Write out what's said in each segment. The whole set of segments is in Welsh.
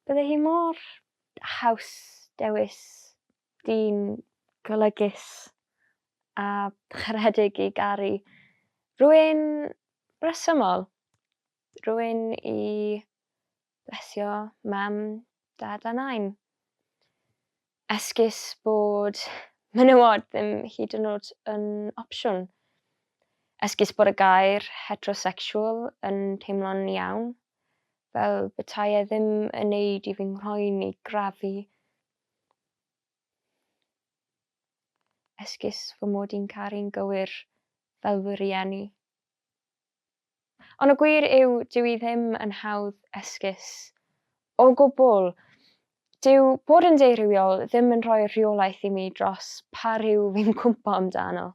Bydde hi mor haws dewis dyn golygus a charedig i garu. Rhywun resymol. Rhywun i blesio Mam, Dad a Nain. Esgus bod menywod ddim hyd yn oed yn opsiwn. Esgus bod y gair 'heterosexual' yn teimlo'n iawn, fel petai e ddim yn neud i fy nghroen i grafu. Esgus fy mod i'n caru'n gywir fel fy rhieni. Ond y gwir yw, dyw i ddim yn hawdd esgus. O gwbl! Dyw bod yn deurywiol ddim yn rhoi rheolaeth i mi dros pa ryw fi'n cwmpo amdano.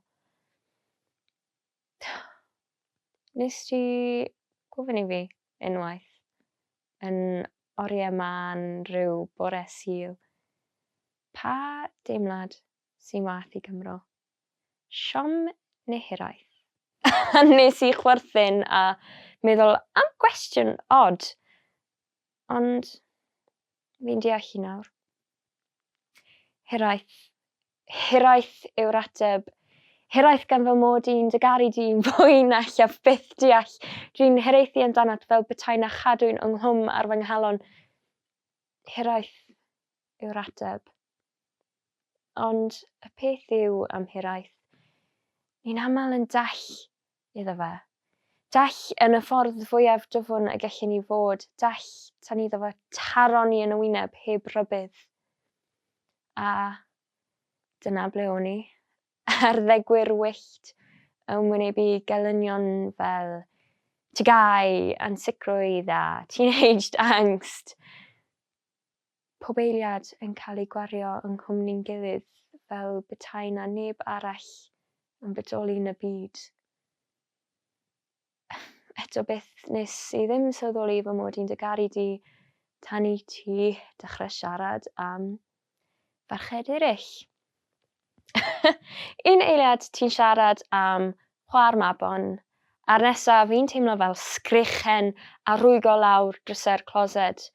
Nes ti gofyn i fi unwaith yn oriau mân ryw bore Sul, pa deimlad sy'n waeth i Gymro. Siom neu hiraeth? A nes i chwerthin a meddwl am gwestiwn od, ond fi'n deall hi nawr. Hiraeth. Hiraeth yw'r ateb. Hiraeth gan fy mod i'n dy garu di fwy na llef byth deall. Dwi'n hiraethu amdanat fel petai na chadwyn ynghlwm ar fy nghalon. Hiraeth. yw'r ateb. Ond y peth yw am hiraeth, ni'n aml yn dall iddo fe. Dall yn y ffordd fwyaf dwfn y gellyn ni fod, dall tan iddo fo taro ni yn y wyneb heb rybudd. A dyna ble o'n i. Arddegwyr wyllt yn wynebu gelynion fel tygau, ansicrwydd a teenaged angst. Pob eiliad yn cael ei gwario yng nghwmni'n gilydd fel betae 'na neb arall yn bodoli yn y byd. Eto byth nes i ddim sylweddoli fy mod i'n dy garu di tan i ti dechrau siarad am farched eraill. Un eiliad ti'n siarad am chwa'r mabon, a'r nesa fi'n teimlo fel sgrechen a rwygo lawr drysau'r closet.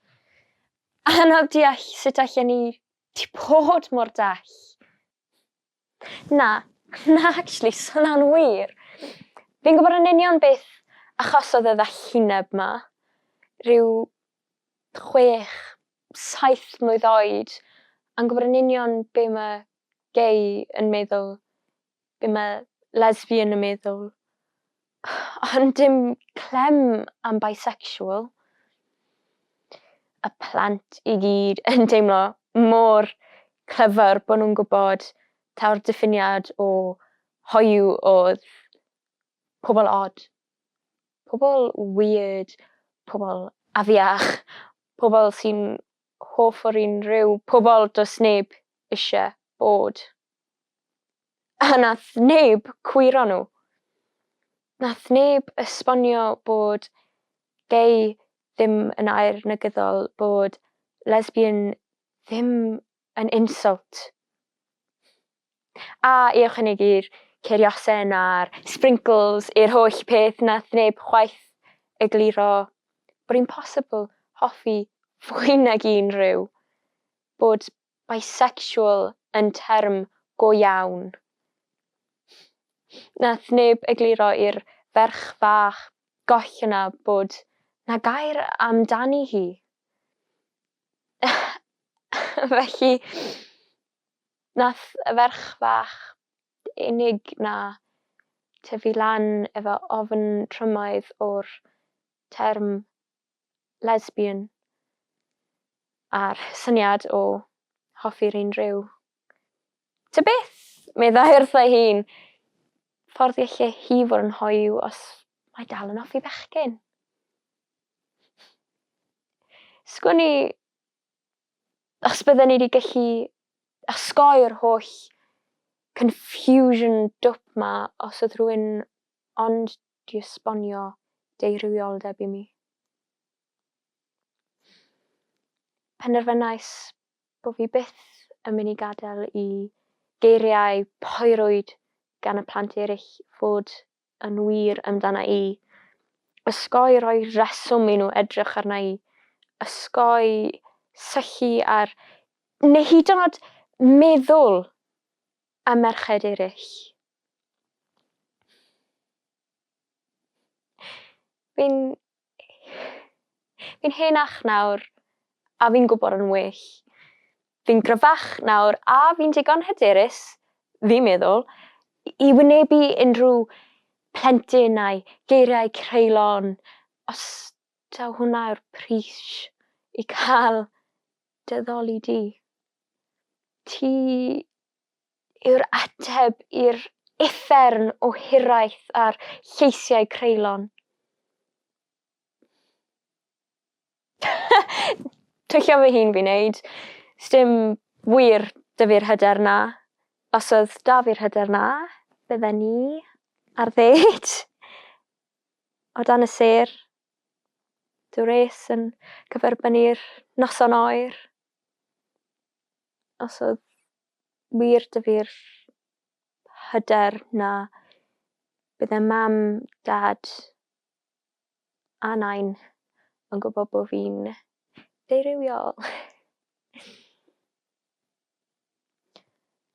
Anodd deall sut allen ni ti bod mor dall. Na, na actually, so na'n wir. Fi'n gwybod yn union beth achosodd y ddallineb 'ma. Rhyw chwech, saith mlwydd oed, a'n gwybod yn union be mae gay yn meddwl, be mae lesbian yn meddwl, ond dim clem am bisexual. Y plant i gyd yn deimlo mor clyfar bod nhw'n gwybod taw'r diffiniad o hoyw oedd pobl od. Pobl weird. Pobl afiach. Pobl sy'n hoff o'r un rhyw. Pobl does neb isie bod. A nath neb cwyro nhw. Nath neb esbonio bod gay ddim yn air negyddol, bod lesbian ddim An insult. A i ychwanegu'r ceriosen a'r sprinkles i'r holl peth nath neb chwaith egluro bod hi'n possible hoffi fwy nag un rhyw, bod bisexual yn term go iawn. Nath neb egluro i'r ferch fach goch yna bod 'na gair amdani hi. felly nath y ferch fach unig 'na tyfu lan efo ofn trwmaidd o'r term lesbian a'r syniad o hoffi'r un rhyw. Tybeth! meddai wrtha ei hun. Ffordd y lle hi fod yn hoyw os mae dal yn offi bechgyn. Sgwn i os bydden ni wedi gallu osgoi'r holl confusion dwp ma os oedd rhywun ond di esbonio deirywioldeb i mi. Penderfynais bod fi byth yn mynd i gadael i geiriau poerwyd gan y plant eraill fod yn wir amdana i. Osgoi rhoi rheswm i nhw edrych arna i. Osgoi syllu ar, neu hyd yn oed meddwl am merched eraill. Fi'n Fi'n henach nawr a fi'n gwybod yn well. Fi'n gryfach nawr a fi'n digon hyderus, fi'n meddwl, i wynebu unrhyw plentyn a'i geiriau creulon, os taw hwnna yw'r pris i cael dy ddoli di. Ti yw'r ateb i'r uffern o hiraeth a'r lleisiau creulon. Twyllo fy hun fi'n neud. Sdim wir 'da fi'r hyder 'na. Os oedd 'da fi'r hyder 'na, bydden ni ar ddêt o dan y sêr, dŵr res yn cyferbynnu'r noson oer. Os oedd wir 'da fi'r hyder 'na bydd e mam, dad a nain yn gwybod bod fi'n ddeurywiol.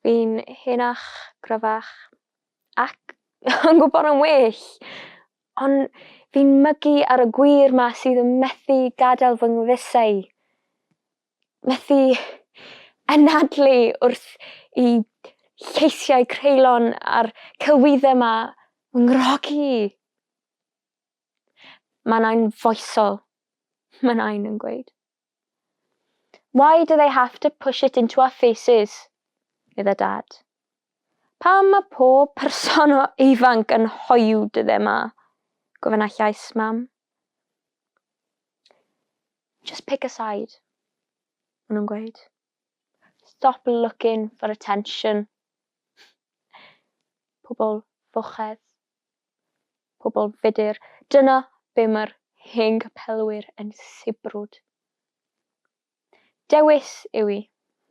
Fi'n henach, gryfach ac yn gwybod yn well ond fi'n mygu ar y gwir 'ma sydd yn methu gadael fy ngwddesau. methu anadlu wrth i lleisiau creulon a'r celwyddau 'ma fy nghrogi. Mae'n anfoesol, mae nain yn gweud. Why do they have to push it into our faces? medda Dad. Pam mae pob person o ifanc yn hoyw dyddiau 'ma? gofynna llais Mam. Just pick a side. Maen nhw'n gweud. Stop looking for attention. Pobl fochedd. Pobl fudur. Dyna be mae'r hen gapelwyr yn sibrwd. Dewis yw i,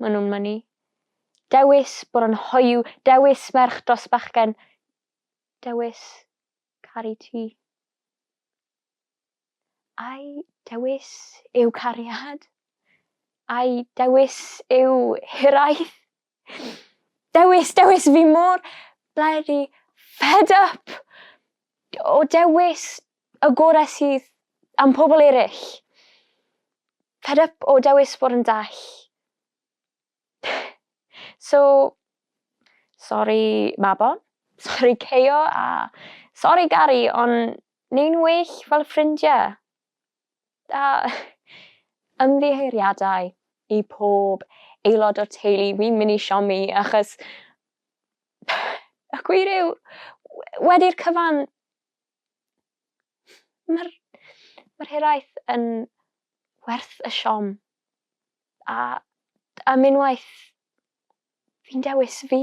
maen nhw'n mynnu. Dewis bod yn hoiw, dewis merch dros bachgen, dewis caru ti. Ai dewis yw cariad? Ai dewis yw hiraeth? Dewis, dewis, fi mor bloody fed up o dewis y gorau sydd am pobl eraill. Fed up o dewis bod yn dall. so, sori Mabon, sori Keio a sori Gari ond ni'n well fel ffrindiau! A ymddiheuriadau i pob aelod o'r teulu fi'n mynd i siomi achos y gwir yw wedi'r cyfan Mae'r mae'r hiraeth yn werth y siom. A am unwaith fi'n dewis fi.